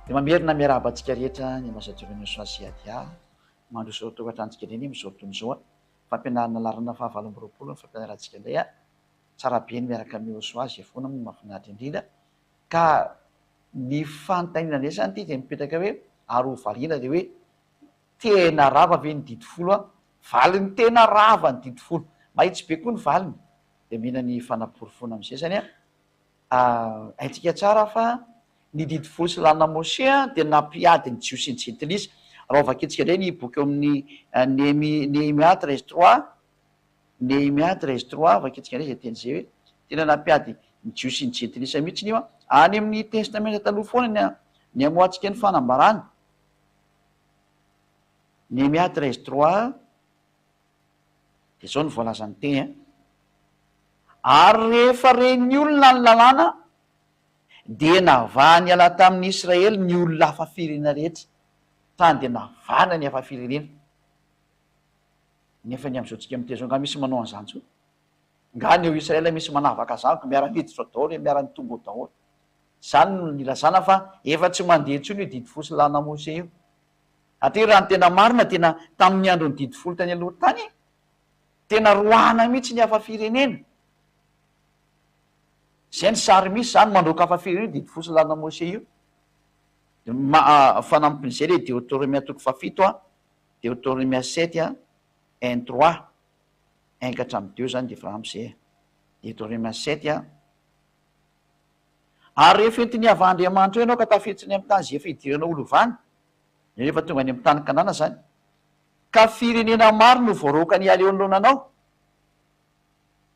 Dia mamerina miarahaba antsika rehetra ny Ambassadeur Inosa sy Adia mandroso tokantranontsika indray anie amin'izao fotoana izao. Fampianarana laharana fahavalo amby roapolo ny fampianarantsika indray. Tsara be ny miaraka amin'i Inosa, izay foana moa no mahafinaritra indrindra. Ka ny fanontaniana indray izany ity dia mipetraka hoe ary ho variana dia hoe Tena rava ve ny didy folo an? Valiny tena rava ny didy folo. Mahitsy be koa ny valiny. Dia mila ny fanaporofoana amin'ny sesany an. Haintsika tsara fa ny didy folo sy lanina Moshe dia nampiady ny Jiosy sy ny Jentilisa. Raha ho vakintsika indray ny boky ao amin'ny Nehemia treize trois, Nehemia treize trois, vakintsika indray izay teny izay hoe tena nampiady ny Jiosy sy ny Jentilisa mihitsy io an. Any amin'ny Testamenta Taloha foana ny hamoahantsika ny fanambarana. Nehemia treize trois dia izao no voalazan'ny teny a, ary rehefa re ny olona ny lalàna dia navaha niala tamin'ny Israely ny olona hafa firenena rehetra, tany dia navahana ny hafa firenena. Nefa ny amin'izao tsika miteny izao nga misy manao an'izany zao? Nga ny ao Israely misy manavaka zany ko miara miditra ao daholo e, miara mitombo ao daholo. Izany no nilazana fa efa tsy mandeha intsony io didy fosy lana mose io. Atri raha ny tena marina tena tamin'ny andron'ny didy folo tany aloha tany tena roahana mihitsy ny hafa firenena. Izay ny sary misy izany mandroaka hafa firenena io didy fosy lana mose io. Fanampin'izay ilay deotoromia toko fahafito a, deotoromia sept a, un trois, un ka hatramin'ny deux izany dia efa ampy izay e. Deotoromia sept a, Ary rehefa entin'ny havahandriamanitra eo ianao ka tafiditsiny amin'ny tany izay efa idiranao ho lovany, dia rehefa tonga any amin'ny tany Kanana izany, ka firenena maro no voaroakany hiala eo anoloana anao,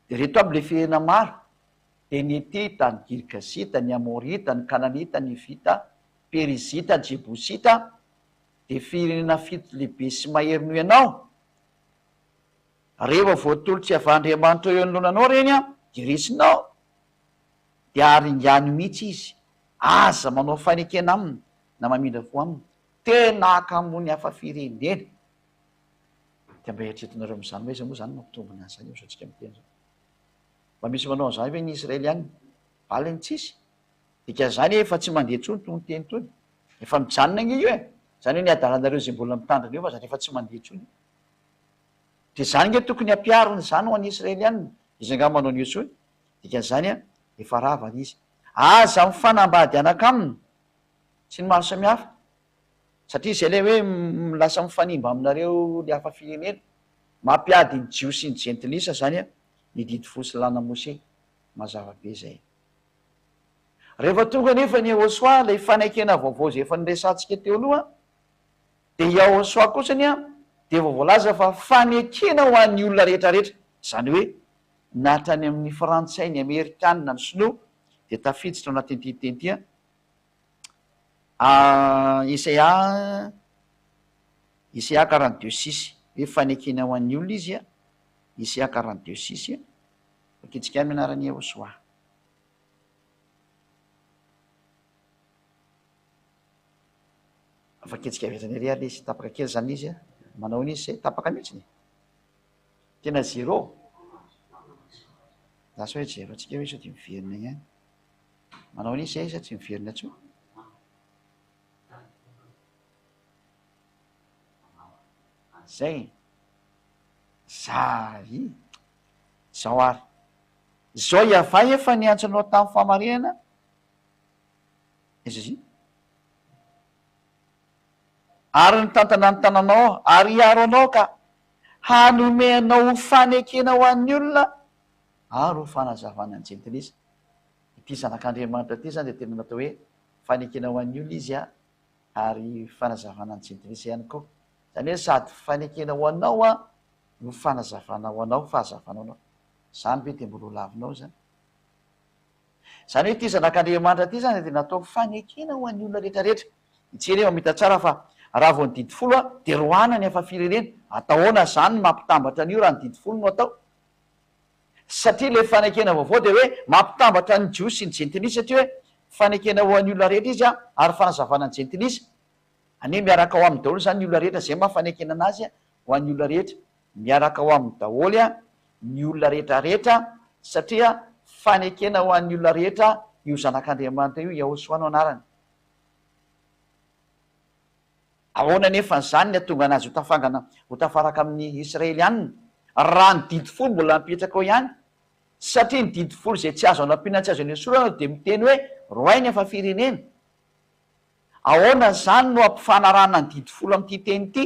dia ireto aby ilay firenena maro, dia ny Hetita, ny Girgasita, ny Amorita, ny Kananita, ny Hivita, Perizita, Jebosita, dia firenena fito lehibe sy mahery noho ianao, rehefa voatolotr'i havahandriamanitra eo anoloana anao ireny dia resinao. dia haringany mihitsy izy, aza manao fanekena aminy na mamindra fo aminy, tena hakamoany hafa firenena, dia mba eritreretinareo amin'izany hoe aiza moa izany no hampitombo ny asany eo izao tsika miteny izao? Mba misy manao an'izany ve ny Israeliana? Valiny tsisy, dikan'izany efa tsy mandeha intsony itony teny itony, efa mijanona ange io e, izany hoe ny adalanareo izay mbola mitandrina io mazatra efa tsy mandeha intsony io, dia izany ange tokony hampiharina izany ho an'ny Israeliana, izy angaha manao an'io intsony? Dikan'izany an, efa rava ny izy. Aza mifanambady anak'aminy sy ny maro samihafa, satria izay ilay hoe lasa mifanimba aminareo ny hafa firenena. Mampiady ny Jiosy sy ny Jentilisa izany an, ny Didy Folo sy ny Lalana Mose. Mazava be izay. Rehefa tonga anefa an'i Yehosua ilay fanekena vaovao izay efa noresahantsika teo aloha, Dia i Aung Soa kosa anie dia efa voalaza fa fanekena ho an'ny olona rehetra rehetra, izany hoe na hatrany amin'ny frantsay, ny amerikanina, ny sinoa dia tafiditra ao anatin'ity teny ity an, Yesaya Yesaya quarante deux six, hoe fanekena ho an'ny olona izy an, Yesaya quarante deux six, vakintsika aminy ny anaran'i Aung Soa. Afak'hetsika avy hatrany ary izy, tapaka kely zany izy manao an'izy zay, tapaka mihitsy e! Tena zero! Za sao hoe zero antsika hoe sao dia miverina ihany. Manao an'izy zay izy fa tsy miverina intsony. Zay e! Zary e! Zao ary. Zao iavay efa niantso anao tamin'ny fahamarinana. Zzz. Ary ny tantana ny tananao ary hiaro anao ka hanome anao fanekena ho an'ny olona ary ho fanazavana ny jentilisa. Ity zanak'Andriamanitra ity izany dia tena natao hoe fanekena ho an'ny olona izy ary fanazavana ny jentilisa ihany koa. Izany hoe sady fanekena ho anao no fanazavana ho anao, fahazavana ho anao. Izany ve dia mbola ho lavinao izany? Izany hoe ity Zanak'Andriamanitra ity izany dia natao fanekena ho an'ny olona rehetra rehetra. Ity anie mamita tsara fa raha vao ny didy folo dia roahina ny hafa firenena. Atao ahoana izany ny mampitambatra an'io raha ny didy folo no atao? Satria ilay fanekena vaovao dia hoe mampitambatra ny Jiosy sy ny Jentilisa satria hoe fanekena ho an'ny olona rehetra izy ary fanazavana ny Jentilisa. Anie miaraka ao aminy daholo izany ny olona rehetra izay maha fanekena anazy ho an'ny olona rehetra. Miaraka ao aminy daholo ny olona rehetra rehetra satria fanekena ho an'ny olona rehetra io zanak'Andriamanitra io Yahosoa no anarany. Ahoana anefa izany ny hatonga anazy ho tafangana ho tafaraka amin'ny Israelianina raha ny didy folo mbola mipetraka eo ihany? Satria ny didy folo izay tsy azo anampiana tsy azo enesorana dia miteny hoe rohay ny hafa firenena. Ahoana izany no hampifanarahana ny didy folo amin'ity teny ity?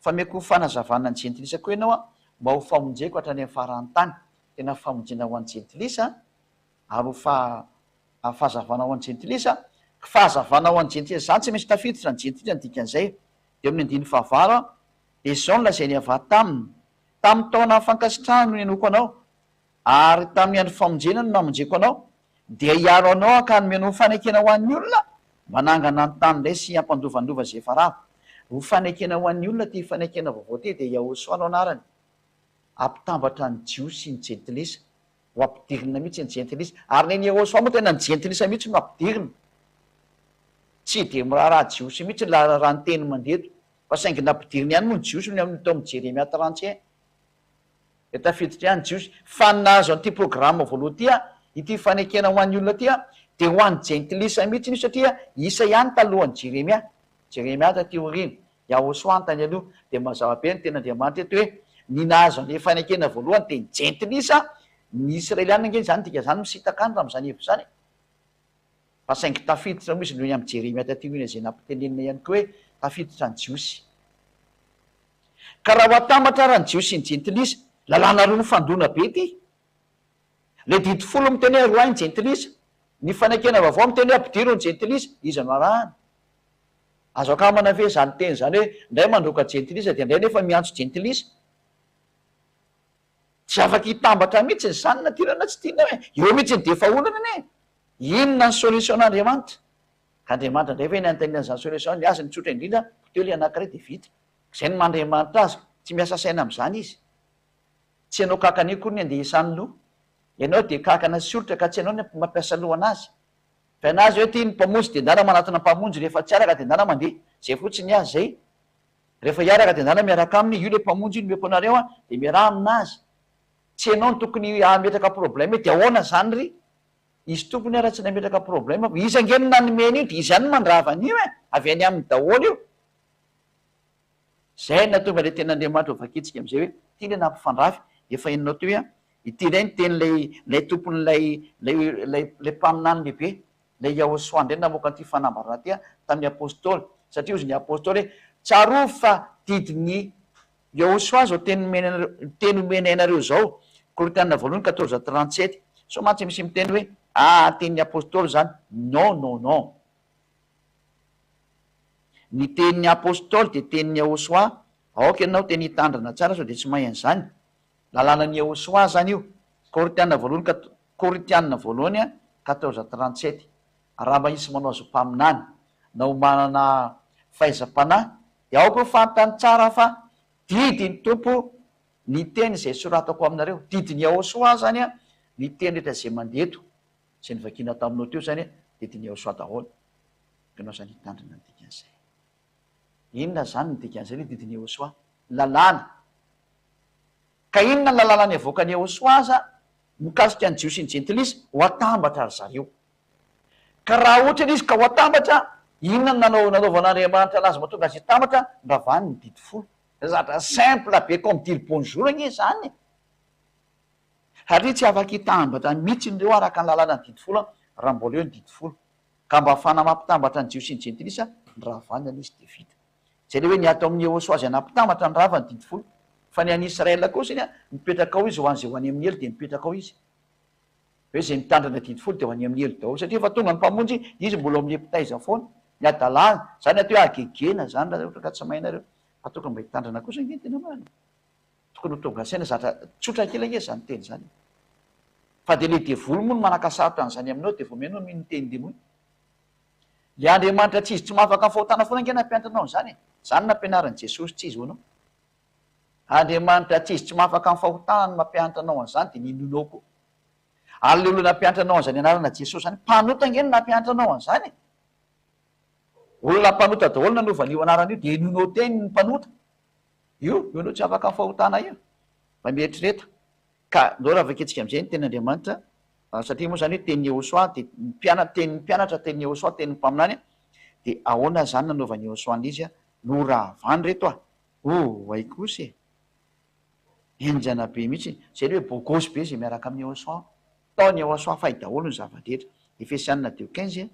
Fa meko fanazavana ny jentilisa koa ianao mba ho famonjeko hatrany amin'ny faran'ny tany, tena famonjena ho an'ny jentilisa ary ho fahazavana ho an'ny jentilisa, ky fahazavana ho an'ny jentilisa, izany tsy misy tafiditra ny jentilisa ny dikan'izay, dia amin'ny andininy fahavalo, Ezaho nilazain'i Yavah taminy, Tamin'ny taona fankasitrahany no ninoako anao, Ary tamin'ny andro famonjena no namonjeko anao, dia hiaro anao hankany omena ho fanekena ho an'ny olona, mba hanangana ny tany indray sy hampandovandova izay efa rava. Ho fanekena ho an'ny olona ity fanekena vaovao ity, dia Yahoshua no anarany. Hampitambatra ny Jiosy ny Jentilisa, ho ampidirina mihitsy ny Jentilisa. Ary nen'i Yahoshua moa tena ny Jentilisa mihitsy no ampidirina. Tsy dia miraharaha Jiosy mihitsy ilay raha ny teny mandeha eto, fa saingy nampidiriny ihany moa ny Jiosy ny amin'ny teo amin'i Jeremia trente et un. Dia tafiditra ihany Jiosy. Fa ny nahazo an'ity programa voalohany ity, ity fanekena ho an'ny olona ity, dia ho an'ny jentilisa mihitsy io satria isa ihany talohan'i Jeremia. Jeremia taty aoriana. Yahoshua no tany aloha. Dia mazava be ny tenin'Andriamanitra eto hoe ny nahazo an'ilay fanekena voalohany dia ny jentilisa, ny Israeliana ange izany, dika izany misintaka any raha amin'izany hevitra izany e. Fa saingy tafiditra moa izy noho ny amin'i Jeremia taty aoriana izay nampitenenina ihany koa hoe tafiditra ny Jiosy. Ka raha ho atambatra ara ny Jiosy sy ny Jentilisa, lalàna roa mifandona be ity. Ilay Didy Folo miteny hoe aroahy ny Jentilisa, ny Fanekena Vaovao miteny hoe ampidiro ny Jentilisa, iza no arahana? Azo akamana ve izany teny izany hoe indray mandroaka Jentilisa dia indray nefa miantso Jentilisa? Tsy afaka hitambatra mihitsy ny zanany aty raha tsy tianao e! Eo mihitsy ny defa olana anie e! Inona ny solution Andriamanitra? Ka Andriamanitra indray ve ny hanontaniana an'izany solution? Ny azy mitsotra indrindra, poteho ilay anankiray dia vita. Izay no maha-Andriamanitra azy, tsy miasa saina amin'izany izy. Tsy ianao kankana io akory ny andehesany loha. Ianao dia kankana sy olitra ka tsy ianao ny mampiasa loha an'azy. Fa ianao azy hoe tia ny Mpamonjy dia ndana manatona Mpamonjy, rehefa tsy araka dia ndana mandeha. Izay fotsiny ny azy izay. Rehefa hiaraka dia andehanana miaraka aminy, io ilay mpamonjy io nomeko anareo an, dia miaraha aminazy, tsy ianao no tokony hametraka problème hoe dia ahoana izany ry izy tompony ary raha tsy nametraka problème aho, izy ange no nanome an'io dia izy ihany no mandrava an'io e, avy any aminy daholo io. Izay no nahatonga ilay tenin'Andriamanitra ho vakintsika amin'izay hoe ity ilay nampifandrafy, efa henonao teo hoe an, ity indray no tenin'ilay ilay tompon'ilay ilay ilay mpaminany lehibe, Ilay Iaosoà indray namoaka an'ity fanambarana ity tamin'ny Apôstôly, satria hozy ny Apôstôly hoe, Tsarovy fa didin'i Iaosoà izao teny nomena anareo, teny omenay anareo izao, Korintiana voalohany quatorze trente sept. Sao mantsy misy miteny hoe, Ah, tenin'ny Apôstôly izany. Non, non, non. Ny tenin'ny Apôstôly dia tenin'i Iaosoà, aoka ianao tena hitandrana tsara sao dia tsy mahay an'izany. Lalànan'i Iehôsoa izany io. Korintiana voalohany ka Korintiana voalohany quatorze trente sept Arahaba hisy manao azy ho mpaminany, na ho manana fahaiza-panahy, dia aoka ho fantany tsara fa didin'ny Tompo ny teny izay soratako aminareo. Didin'i Iehôsoa izany ny teny rehetra izay mandeha eto. Izay novakiana taminao teo izany, didin'i Iehôsoa daholo. Ianao izany hitandrina ny dikan'izay. Inona izany no dikan'izay ny didin'i Yehosoa? Lalàna. Ka inona ny lalàna niavoakan'i Yehosoa aza mikasika ny Jiosy sy ny Jentilisa? Ho atambatra ry zareo. Ka raha ohatra ilay izy ka ho atambatra, inona no nanao nanaovan'Andriamanitra anazy mahatonga azy hitambatra? Nravany ny Didy Folo. Zavatra simple be comme dire bonjour anie izany e! Satria tsy afaka hitambatra mihitsy ireo araka ny lalàna ny Didy Folo raha mbola eo ny Didy Folo. Ka mba afahana mampitambatra ny Jiosy sy ny Jentilisa ny rahavany aloha izy dia vita. Izay ilay hoe ny ato amin'i Yehosua izay nampitambatra ny rahavany, didy folo. Fa ny an'i Israel kosa iny, mipetraka ao izy ho an'izay ho any amin'ny helo dia mipetraka ao izy. Hoe izay mitandrina ny didy folo dia ho any amin'ny helo daholo satria efa tonga ny Mpamonjy, izy mbola ao amin'ny epitaiza foana. Ny hadalana, izany atao hoe hagegena izany raha ohatra ka tsy mahay nareo. Fa tokony mba hitandrina kosa ange ny tena marina. Tokony ho tonga saina zatra tsotra kely ange zany teny zany e! Fa de le devoly moa no manakasarotra an'zany aminao de vao mihaino hoe mino ny teny demoly? Le Andriamanitra tsy izy tsy mahafaka ny fahotana foana ange nampianatra anao an'zany e! Zany nampianarin'i Jesosy tsy izy ho anao. Andriamanitra tsy izy tsy mahafaka ny fahotana no mampianatra anao an'zany de minoanao koa. Ary le olona nampianatra anao an'zany anarana Jesosy zany mpanota ange no nampianatra anao an'zany e! Olona mpanota daholo nanova an'io anarana io de henoinao teny ny mpanota. Io io aloha tsy afaka fahotana io raha mieritrereta ka ndao raha vakintsika amin'izay ny tenin' Andriamanitra satria moa izany hoe tenin'i Yehosua dia ny mpianatra tenin'ny mpianatra tenin'i Yehosua tenin'ny mpaminany dia ahoana izany nanaovan'i Yehosua ny izy no rahavany reto a! oh hay kosa e! henjana be mihitsy izay ilay hoe bogosy be izay miaraka amin'i Yehosua, ntaon'i Yehosua fay daholo ny zava-drehetra, Efesianina deux quinze,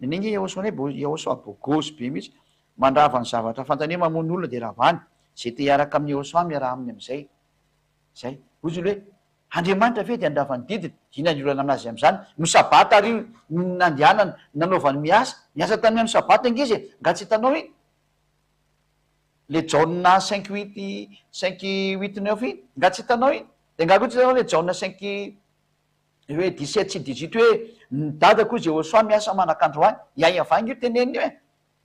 Neneh nge Iaoso anay bo Iaoso ah bogosy be mihitsy mandrava ny zavatra fantany hoe mamono olona dia ravany ze te hiaraka amin'i Iaoso ah miaraha aminy amizay zay hoy izy hoe Andriamanitra ve dia handrava ny didiny inona ny olana aminazy amizany no sabata ary iny no nandehanany nanaovany miasa niasa tamin'ny andro sabata nge izy e nga tsy hitanao iny le Jaona cinq huit cinq huit neuf iny nga tsy hitanao iny de nga koa tsy hitanao le Jaona cinq Hoe dix-sept sy dix-huit hoe ny dadako Jehosoa miasa manakandro ahy, i Ahiavangy io teneniny hoe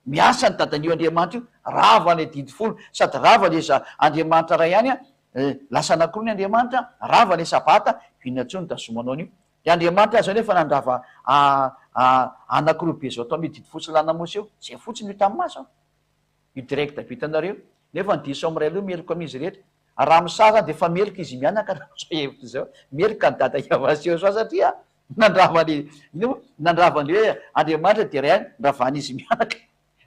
miasa ny dadan'io Andriamanitra io, rava ilay didy folo, sady rava ilay za Andriamanitra Ray ihany an, lasa anankiroa ny Andriamanitra, rava ilay sabata, inona intsony tazomo anao an'io, ilay Andriamanitra azy zao nefa nandrava anankiroa be zao tao amin'io didy folo sy lanamosy io, zay fotsiny io tamin'ny maso an. Io direct vitanareo. Nefa ny diso am ray aloha meloka amin'izy rehetra. Raha am saha zany dia efa meloka izy mianaka raha amzao hevitra izao. Meloka ny dada hiavany sy Yosua satria nandrava ny ino moa? Nandrava ny hoe Andriamanitra dia iray ihany niravan izy mianaka.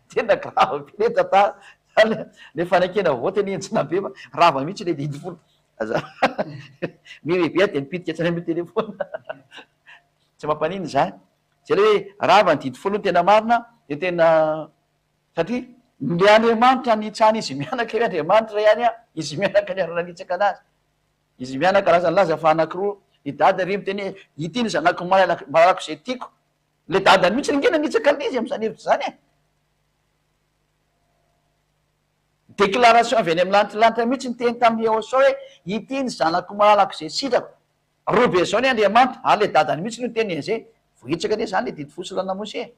Tena grave be le tantara. Zany le fanekena vote anie enjana be fa rava mihitsy le didy folo. Aza mireveille dia mipitika hatrany am telephone. Tsy mampaninona izany. Zay le hoe rava ny didy folo no tena marina dia tena Satria ny Andriamanitra nitsahana izy mianaka io Andriamanitra ihany an, izy mianaka niara-nanitsaka anazy, izy mianaka lasa nilaza fa anankiroa ny dada ery miteny hoe ity ny zanako malalako izay tiako, ilay dadany mihitsy ange nanitsaka an'izy amin'izany hevitra izany e! Déclaration avy any amin'ny lanitra lanitra mihitsy niteny tamin'i Yehosua hoe ity ny zanako malalako izay sitrako. Robinson e Andriamanitra ary le dadany mihitsy no niteny en ze vohitsaka anie zany le didy fo sy la namosy e!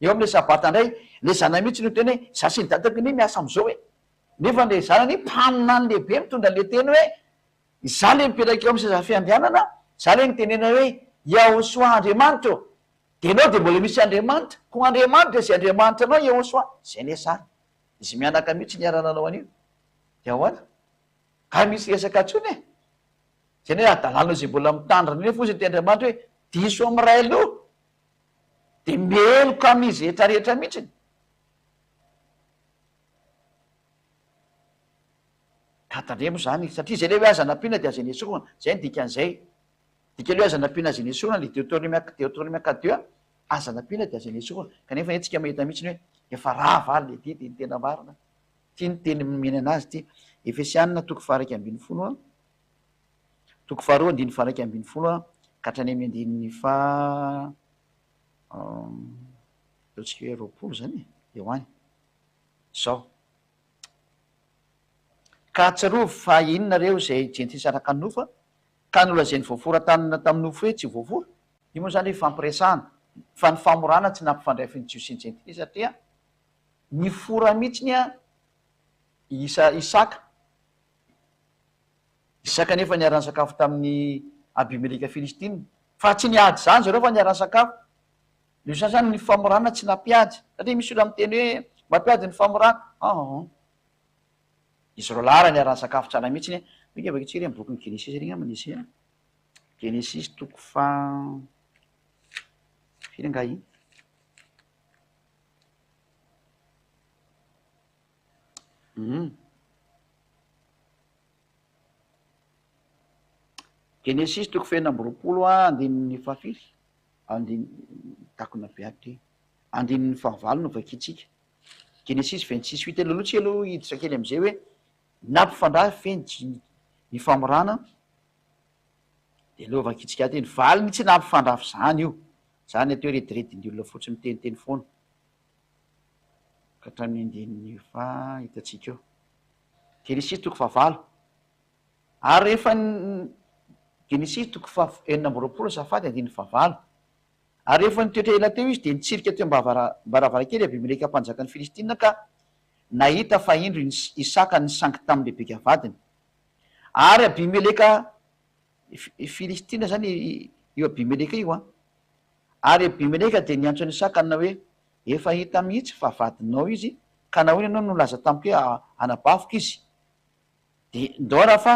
eo amle sabata indray le zanany mihitsy no niteny hoe za sy ny dadako anie miasa amzao e! nefa le zanany mpaminany lehibe mitondra anle teny hoe za le mipetraka eo am seza fiandrianana za le nitenena hoe Yahosoa Andriamanitra ô! de enao de mbola misy Andriamanitra ko Andriamanitra ze Andriamanitra anao Yahosoa zay anie zany izy mianaka mihitsy niara nanao anio de ahoana? nga misy resaka tsony e! Izay anie hadalana izay mbola mitandrina eo foza ity Andriamanitra hoe diso amin'ny ray loha dia meloka amin'izy rehetra rehetra mihitsiny. Ka tandremo izany satria izay le hoe aza nampiana dia aza nesorina, izay ny dikan'izay. Dikany hoe aza nampiana aza nesorina le Deotorime Deotorime quatre deux a, aza nampiana dia aza nesorina. Kanefa anie tsika mahita mihitsiny hoe efa rava ary le didy dia ny tena marina. Ity ny teny nomena anazy ity, Efesiana toko faha iraika ambin'ny folo a. Toko faharoa andininy faharaika ambin'ny folo ka hatrany amin'ny andininy faha ataontsika hoe roapolo izany e, eo any. Izao. Ka ahatsiarovy fa iny nareo izay jentilisa araka ny nofo a, ka nolazain'ny voafora tanana tamin'ny nofo hoe tsy voafora. Io moa izany ifampiresahana, fa ny famorana tsy nampifandray fy ny Jiosy sy ny jentilisa, satria nifora mihitsiny a i Isaka. Isaka anefa niara-nisakafo tamin'i Abimeleka Filistina, fa tsy niady izany zareo fa niara-nisakafo. Ny sasany ny famorana tsy nampiady, satria misy olona miteny hoe mampiady ny famorana, aahh. Izy roa lahy raha niara-nisakafo tsara mihitsy anie, oinga vakitsika ary amin'ny bokin'ny Genesisy ary angamba nisy e. Genesisy toko faha firy angaha iny? Genesisy toko fahefatra amby roapolo andininy fahafiry takona be ato ty andininy fahavalo no vakintsika genesisy vingt six huit ela aloha tsy ela hiditra kely amizay hoe nampifandrafy ve ny dimy ny famorana de aleo vakintsika ato e ny valiny tsy nampifandrafy zany io zany atao hoe rediredin'ny olona fotsiny miteniteny foana ka hatramin'ny andininy efa hitantsika eo. Genesisy toko fahavalo ary rehefa Genesisy toko faha enina amby roapolo azafady andininy fahavalo ary rehefa nitoetra ela teo izy dia nitsirika teo am-baravarankely Abimeleka mpanjakan'ny Filistina ka nahita fa indro Isaka nisangy tamin'i Rebeka vadiny ary Abimeleka Filistina izany io Abimeleka io an! Ary Abimeleka dia niantso an'i Isaka nanao hoe, Efa hita mihitsy fa vadinao izy, ka nahoana ianao no nilaza tamiko hoe anabaviko izy? Dia ndao raha fa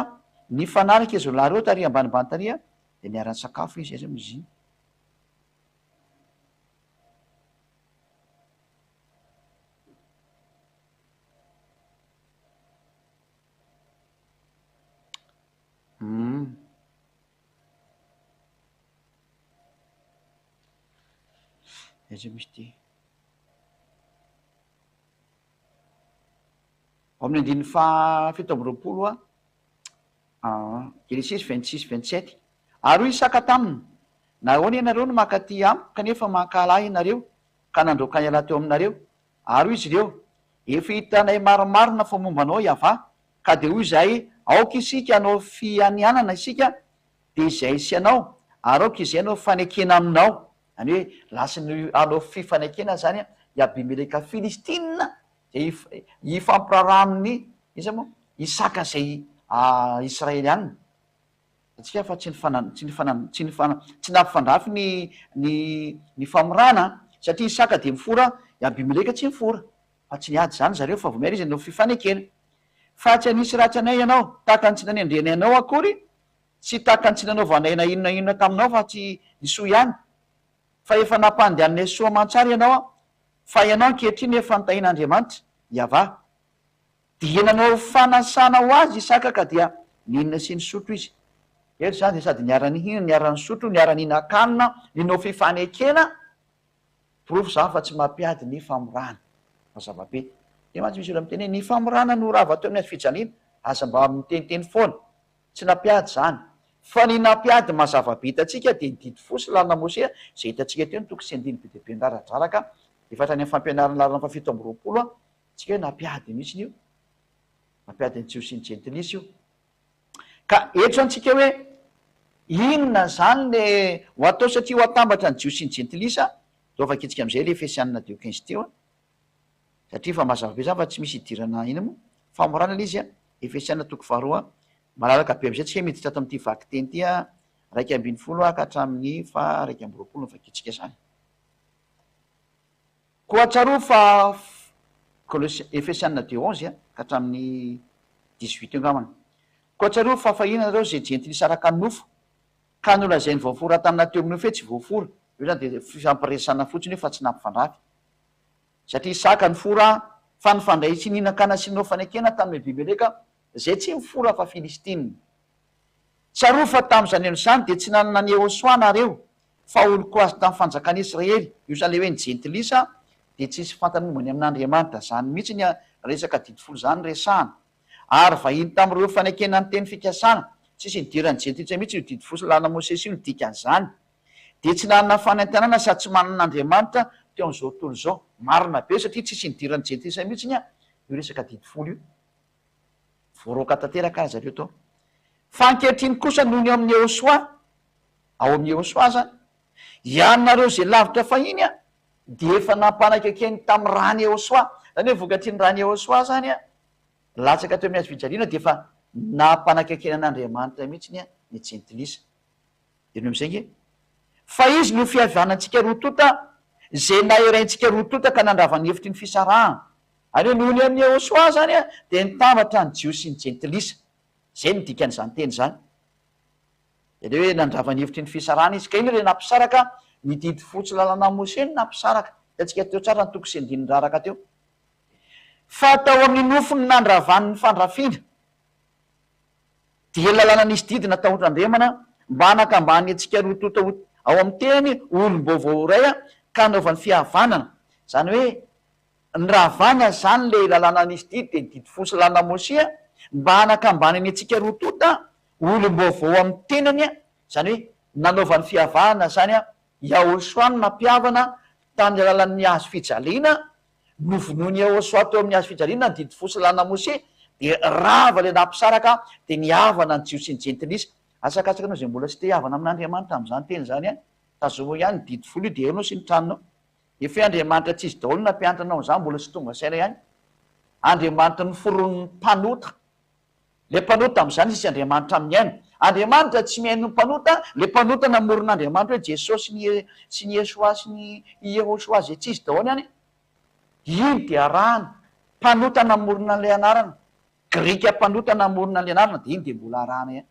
nifanaraka izy roa lahy ireo taria ambanimbany taria, dia niara-nisakafo izy ireo izy. amin'ny andininy fahafito amby roapolo hoa Genesisy vingt six vingt sept ary hoy Isaka taminy, Nahoana ianareo no mankaty amiko kanefa mankahala ahy ianareo ka nandroaka an'ialahy teo aminareo? Ary hoy izy ireo, Efa hitanay marimarina fa momba anao i Avah, Ka dia hoy izahay, Aoka isika hanao fianianana isika, dia izay sy anao, ary aoka izay hanao fanekena aminao. Izany hoe, lasany hanao fifanekena izany i Abimeleka Filistina, dia hifampiraharaha amin'ny, iza moa? Isaka izay Israelianina. Hitantsika fa tsy nifana, tsy nifana, tsy nifana, tsy nampifandrafy ny, ny, ny famorana an, satria Isaka dia mifora, i Abimeleka tsy mifora. Fa tsy niady izany zareo fa vomery izy hanao fifanekena. Fa tsy hanisy ratsy anay ianao, tahaka ny tsy nanendreny anao akory, sy tahaka ny tsy nanaovanay na inona na inona taminao fa tsy ny soa ihany. Fa efa nampandehananay soa aman-tsara ianao, fa ianao ankehitriny efa notahin'Andriamanitra, Yavah. Dia nanao fanasana ho azy Isaka ka dia nihinana sy nisotro izy. Eto izany dia sady niara-nihinana, niara-nisotro, niara-nihinan-kanina, ninao fifanekena. Porofo izany fa tsy mampiady ny famorana. Mazava be. Dia mantsy misy olona miteny hoe, ny famorana no rava teo amin'ny hazofijaliana, aza mba miteniteny foana. Tsy nampiady izany. Fa ny nampiady mazava be hitantsika dia ny didy fo sy lalana Mosea izay hitantsika teo ny toko sy andininy be dia be niraradraraka efa hatrany amin'ny fampianaran'ny laharana fahafito amby roapolo an, tsika hoe nampiady mihitsiny io. Nampiady ny Jiosy sy ny Jentilisa io. Ka hetso antsika hoe, Inona izany le ho atao satria ho atambatra ny Jiosy sy ny Jentilisa? Zao fa kitsika amizay le Efesianina teo quinze teo an! Satria fa mazava be izany fa tsy misy hidirana iny moa. Famorana le izy an! Efesianina toko faharoa. Malalaka be amizay tsika miditra ato amin'ity vakiteny ity an! Iraika ambin'ny folo ka hatramin'ny faha iraika amby roapolo no vakitsika izany. Koa tsarovy fa Kolose, Efesiana deux onze a ka hatramin'ny dix huit eo angambany, Koa tsarovy fa fahiny ianareo izay jentilisa araka ny nofo, ka nolazainy voafora tamina teo amin'ny nofo hoe tsy voafora, io izany dia fifampiresahana fotsiny io fa tsy nampifandrafy, satria Isaka nifora, fa nifandray tsy nihinan-kanina sy nanao fanekena tamin'i Abimeleka Izay tsy mifola fa Filistina. Tsarovy fa tamin'izany andro izany dia tsy nanana an'i Yehosua nareo, fa olon-ko azy tamin'ny fanjakan'i Israely, io izany ilay hoe ny jentilisa dia tsy nisy fantany momba ny amin'Andriamanitra, izany mihitsy iny resaka didy folo izany no resahana, ary vahiny tamin'ireo fanekena ny teny fikasana, tsisy nidiran'ny jentilisa mihitsy io didy folo lalana Mosesy io, ny dikan'izany dia tsy nanana fanentanana sady tsy manana Andriamanitra teo amin'izao tontolo izao, marina be satria tsisy nidiran'ny jentilisa mihitsy io resaka didy folo io. Voaroaka tanteraka aza ireo tao. Fa ankehitriny kosa noho ny ao amin'ny Ehosoa, ao amin'ny Ehosoa aza, hianareo izay lavitra fahiny an, dia efa nampanakaiken'ny tamin'ny ràn'i Ehosoa, izany hoe vokatry ny ràn'i Ehosoa izany an, latsaka teo amin'ny hazo fijaliana dia efa nampanakaikena an'Andriamanitra mihitsy an, ny jentilisa. Heno amin'izay ange. Fa izy no fihavanantsika roa tonta, izay naheraintsika roa tonta ka nandrava ny hevitry ny fisarahana. Ary io nohon'ny amin'i Yehosua izany dia nitambatra ny Jiosy sy ny Jentilisa. Izay no dikan'izany teny izany. Dia ilay hoe nandrava ny hevitry ny fisarahana izy. Ka inona ilay nampisaraka? Ny didy fotsy lalanan'i Mosè no nampisaraka. Hitantsika teo tsara ny toko sy andininy raraka teo. Fa tao amin'ny nofo no nandravany ny fandrafiana. Dia lalana nisy didy natahotran-dRemana mba hanakambany antsika roa tonta ho ao amin'ny teny ho olom-baovao iray ka hanaovany fihavanana. Izany hoe. Ny raha avàna izany le lalàna nisy didy dia ny didy folo salanà Mosia mba hanakambanany antsika roa tonta olom-baovao amin'ny tenany, izany hoe nanaovany fiavahana izany Yahoshua ny nampihavana tamin'ny alalan'ny hazo fijaliana, novonoin'i Yahoshua teo amin'ny hazo fijaliana ny didy folo salanà Mosia dia rava ilay nampisaraka dia nihavana ny Jiosy sy ny Jentilisa. Asakasaky anao izay mbola tsy te-hihavana amin'Andriamanitra amin'izany teny izany an! Tazominao ihany ny didy folo io dia eo ianao sy ny tranonao. Dia fe Andriamanitra tsy izy daholo nampianatra anao an'izany mbola tsy tonga saina ihany. Andriamanitra noforonin'ny mpanota. Ilay mpanota amin'izany sisa Andriamanitra mihaino. Andriamanitra tsy mihaino ny mpanota, ilay mpanota namorona Andriamanitra hoe Jesosy sy ny Iesoà sy ny Iehosoà izay tsy izy daholo ihany. Iny dia arahana. Mpanota namorona an'ilay anarana. Grika mpanota namorona an'ilay anarana dia iny dia mbola arahana ihany.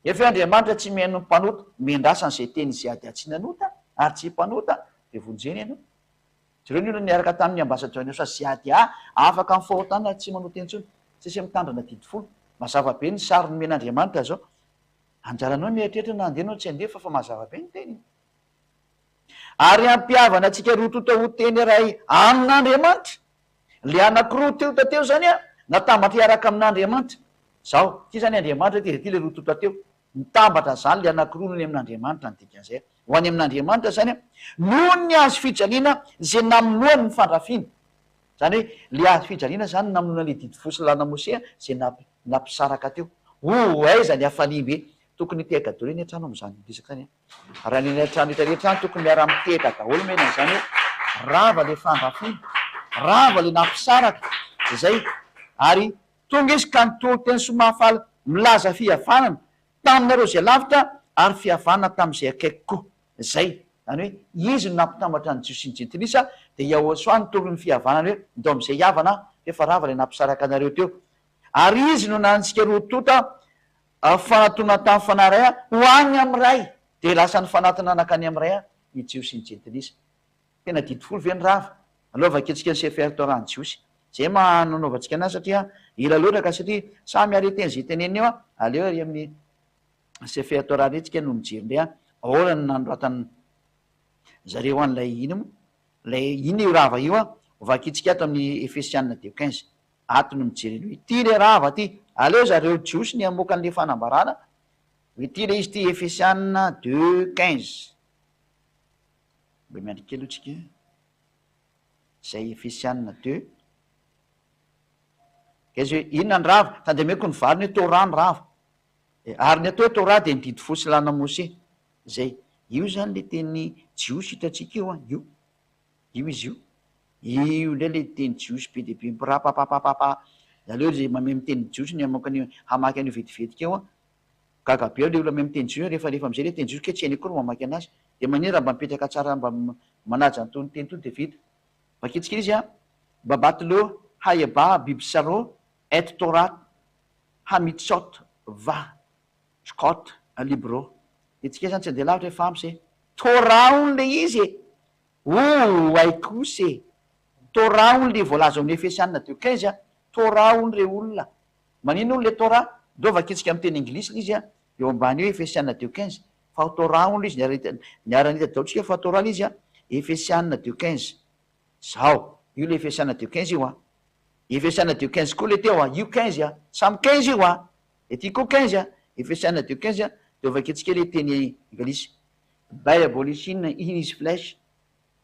Nefa hoe Andriamanitra tsy mihaino ny mpanota, omeny rasa an'izay teny izay ady atsy ny anota ary tsy mpanota dia vonjena ianao. Jereo ny olona niaraka tamin'ny ambasadior ny Osa Ziady aa afaka amin'ny fahotana ary tsy manota intsony, sesy mitandrina didy folo. Mazava be ny sary nomen'Andriamanitra zao. Anjaranao ny mieritreritra na handeha anao tsy handeha fa fa mazava be ny teniny. Ary hampihavana antsika roa tonta ho teny iray amin'Andriamanitra. Ilay anankiroa teo tateo izany an, natambatra hiaraka amin'Andriamanitra. Izao, ity izany Andriamanitra ity, dia ity ilay roa toa tateo. Mitambatra izany ilay anankiroa noho ny amin'Andriamanitra ny dikan'izay. Ho any amin'Andriamanitra izany an, noho ny hazo fijaliana izay namonoany ny fandrafiana. Izany hoe, ilay hazo fijaliana izany no namonoana ilay didy fo sy lalana Mosè izay nampisaraka teo. Oh, aiza ny hafaliam-be tokony hipehagadoreny hatrany ao amin'izany resaka izany an! Raha ny eny an-trano rehetra rehetra any tokony miara-mitehaka daholo mena izany hoe rava ilay fandrafiana, rava ilay nampisaraka izay ary tonga izy ka nitory teny soa mahafaly milaza fihavanana taminareo izay lavitra ary fihavanana tamin'izay akaiky koa. Izay, izany hoe izy no nampitambatra ny Jiosy sy ny Jentilisa dia Yahoshuah nitory ny fihavanana hoe ndao amin'izay hihavana aho f'efa rava ilay nampisaraka anareo teo. Ary izy no nanitsika roa tonta Ary fanatona tany fanary ahy ho any amin'ny Ray, dia lasa nifanatona nankany amin'ny Ray ahy, ny Jiosy sy ny Jentilisa. Tena didy folo ve ny rava? Aleo vakiantsika ny Sefer Torah ny Jiosy. Izay no maha nanaovantsika anazy satria ela loatra ka satria samy hare teny izay teneniny eo an! Aleo ary amin'ny Sefer Torah indray tsika no mijery indray an! Ahoana no nanoratan'ny zareo an'ilay ino moa? Ilay inona io rava io an? Ho vakiantsika ato amin'ny Efesiana deux quinze. Ato no mijerena hoe ity le rava ty. Aleo zareo jiosy ny hamoaka an'le fanambarana hoe ity le izy ity Efesiana deux quinze. Mba miandry kely aloha tsika zay Efesiana deux quinze hoe inona ny rava. Tandemeko ny valiny hoe Torah ny rava. Ary ny atao hoe Torah dia ny didy folo sy ny lalana Mose. Zay. Io zany le teny jiosy hitantsika io an. Io. Io izy io. Io indray ilay teny jiosy be dia be mipirapapapapa. Ianareo izay mamehy miteny jiosy ny mamoaka an'io hamaky an'io vetivetika io an! Gaga be aho ilay olona mamehy miteny jiosy rehefa rehefa amin'izay ilay teny jiosy kay tsy hainy akory ny mamaky an'azy. Dia manina raha mba mipetraka tsara mba manaja an'itony teny itony dia vita. Vakitsika ilay izy an! Babat lo haye ba bibsaro et torat hamitsot vah. Scott, un libro, dia tsika izany tsy handeha lavitra e Fams e! Torah hono ilay izy e! Ooh hay kosa e! Torah hono ilay voalaza ao amin'ny Efesiana deux quinze a! Torah hono re olona! Maninona hono ilay Torah? Ndreo vakintsika amin'ny teny anglisy ilay izy a! Eo ambany eo Efesiana deux quinze. Fa ao Torah hono ilay izy, niara-nahita daholo tsika fa Torah ilay izy a! Efesiana deux quinze. Izao, io ilay Efesiana deux quinze io a! Efesiana deux quinze koa ilay teo a! Io quinze a! Samy quinze io a! Ity koa quinze a, efesiana de quinze a, de vakiantsika le teny anglisy. Bay abolishin in his flesh,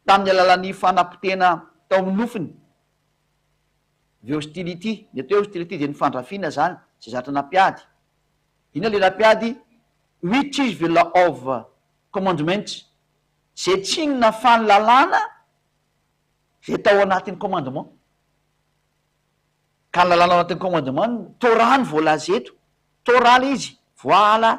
tamin'ny alalan'ny fanapotehana tao amin'ny nofiny. The hostility, ny atao hoe hostility dia ny fandrafiana izany izay zatra nampiady. Inona ilay nampiady? Which is the law of commandments, izay tsy inona fa ny lalàna izay tao anatin'ny commandement. Ka ny lalàna ao anatin'ny commandement ny Torah no voalaza eto, Torah ilay izy, voaala.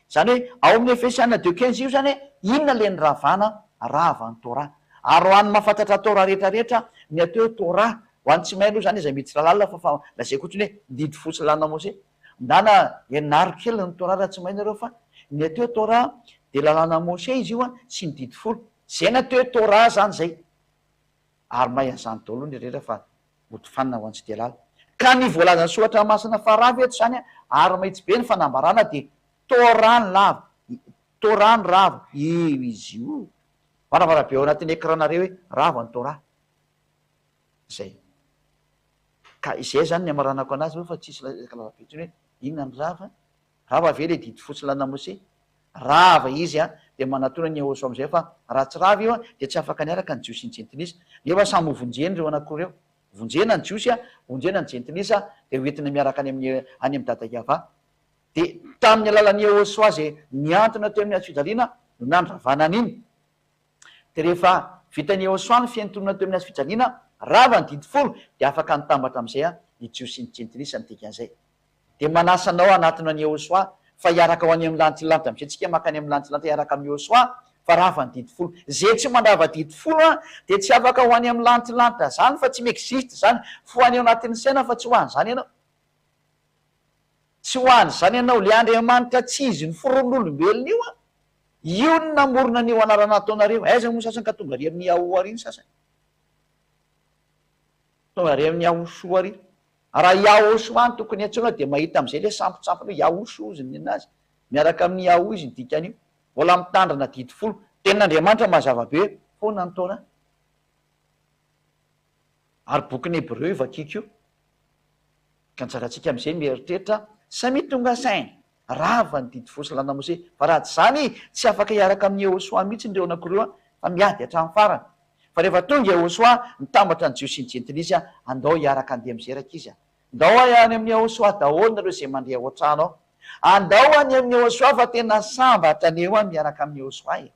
Izany hoe ao amin'ny Efesiana deux quinze io izany hoe inona ilay niravana, rava ny Torah. Ary ho an'ny mahafantatra Torah rehetra rehetra, ny atao hoe Torah, ho an'ny tsy mahay aloha izany iza mety tsy lalàna fa fa lazaiko fotsiny hoe didy fotsy lalàna Mose. Ndana ianaro kely ny Torah raha tsy mahay nareo fa ny atao hoe Torah dia lalàna Mose izy io sy ny didy folo. Izay ny atao hoe Torah izany izay. ary mahay an'izany daholo ny rehetra fa hotofanina ho an'Tsitealala. Ka ny voalazan'ny soratra masina faravo eto izany ary mahitsy be ny fanambarana dia toa rano lava toa rano rava io izy io oh! Varavarabe ao anatin'ny écran nareo hoe rava ny Torah. Izay. Ka izay izany ny hamaranako anazy fa tsisy resaka lavabe intsony hoe inona ny rava Rava ve le didy fotsy lanamose? Rava izy a! Dia manatona ny eoso amizay fa raha tsy rava io a dia tsy afaka niaraka ny jiosy sy ny jentilisa. Nefa samy ho vonjeny ireo anakiroa ireo. Vonjena ny jiosy a, vonjena ny jentilisa dia ho entina miaraka any amin'ny any amin'i Dada Iavà. Dia tamin'ny alalan'i Eosoaze nihantona teo amin'ny hazofijaliana no nandravana an'iny. Dia rehefa vitan'i Yehosua ny fiantonana teo amin'ny hazofijaliana, rava ny didy folo, dia afaka nitambatra amin'izay ny Jiosy sy ny Jentilisa ny dikan'izay. Dia manasa anao hanatona an'i Yehosua fa hiaraka ho any amin'ny lantilanitra, misy antsika mankany amin'ny lantilanitra hiaraka amin'i Yehosua fa rava ny didy folo. Izay tsy mandrava didy folo dia tsy afaka ho any amin'ny lantilanitra izany fa tsy mi-existe izany, fohany ao anatin'ny saina fa tsy ho an'izany ianao. Tsy ho an'izany ianao. Ilay Andriamanitra tsy izy ny foron'olombelona io an! Io no namorona an'io anarana ataonareo. Aiza moa ny sasany ka tonga ary amin'i Yahoo ary ny sasany? Tonga ary amin'i Yahoshua ary. Raha Yahoshua no tokony antsoina dia mahita amin'izay ilay sampitsampiny hoe Yahoshua hozy ny nenazy. Miaraka amin'i Yahoo izy ny dikan'io. Mbola mitandrina didy folo. Tenin'Andriamanitra mazava be foana ny Torah. Ary bokin'ny Hebreo io vakiko io. Ka ny zaratsika amin'izay mieritreritra samia tonga saina. rava ny didy fosy lanamose fa raha tsy izany tsy afaka hiaraka amin'i Yehosoa mihitsy ny reonako ireo an, fa miady hatramin'ny farany. Fa rehefa tonga Yehosoa nitambatra ny Jiosy sy ny Jentilisa an, andao hiaraka handeha mizeraka izy an. Ndao any amin'i Yehosoa daholo nareo izay mandre ao an-trano ao. Andao any amin'i Yehosoa fa tena samba hatrany eo an miaraka amin'i Yehosoa e.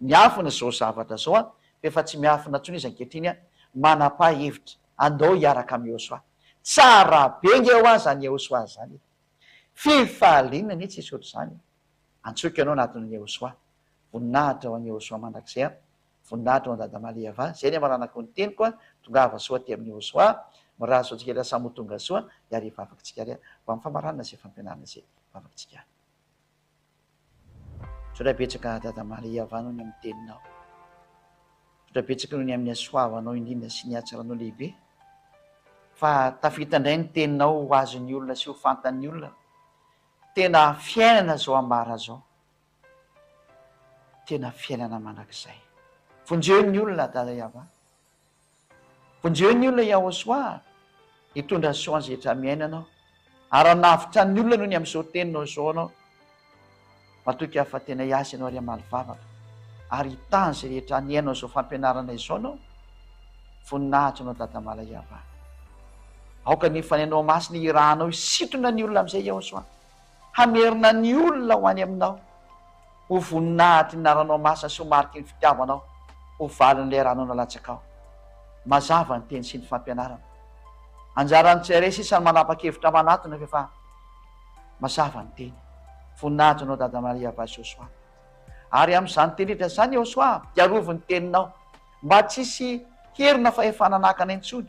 Miafina izao zavatra izao an, fa efa tsy miafina intsony izy ankehitriny an, manapa hevitra, andao hiaraka amin'i Yehosoa. Tsara be nge ho azy zany Yehosoa zany e. Firy fahaliana anie tsisy ohatr'izany e! Antsoiko ianao anatin'i Yehosoa. Voninahitra ho an'i Yehosoa mandrakizay a! Voninahitra ho an'i Dada Malievà a! Izay ny amaranako ny teniko a! Tongava soa aty amin'i Yehosoa a! Mirary soa antsika rehetra samy ho tonga soa hiara hivavaka tsika re a! Ho amin'ny famaranana izay fampianarana izay hivavaka tsika a! Misaotra betsaka Dada Maria Vano ny amin'ny teninao. Misaotra betsaka ny amin'ny hasoavanao indrindra sy ny hatsaranao lehibe fa tafita indray ny teninao ho azon'ny olona sy ho fantan'ny olona tena fiainana izao ambara izao. Tena fiainana mandrakizay. Vonjeo ny olona Dada Yava. Vonjeo ny olona i Yahoshua hitondra ny soa zetra amin'ny aina-nao. Aran'avitra ny olona noho ny amin'izao teny nao izao anao. Matoky aho fa tena hiasa ianao ary hamaly vavaka ary hitaha izay rehetra aniainao izao fampianarana izao nao. Voninahitra anao Dada Malay Yavah. Aoka ny fanainao masina hirahanao hisintona ny olona amin'izay Yahoshua. Hamerina ny olona ho any Aminao, ho voninahitry ny Ranao Masina sy ho mariky ny fitiavanao, ho valin'ilay Ranao nalatsakao. Mazava ny Teny sy ny fampianarana. Anjaran'ny tsirairay sisa ny manapa-kevitra manatona ve fa mazava ny Teny. Voninahitra Anao Dada Maria Vasosoa. Ary amin'izany Teny rehetra izany, Eosoa, dia arovy ny Teninao, mba tsy hisy herina fahefana hanaka anay intsony,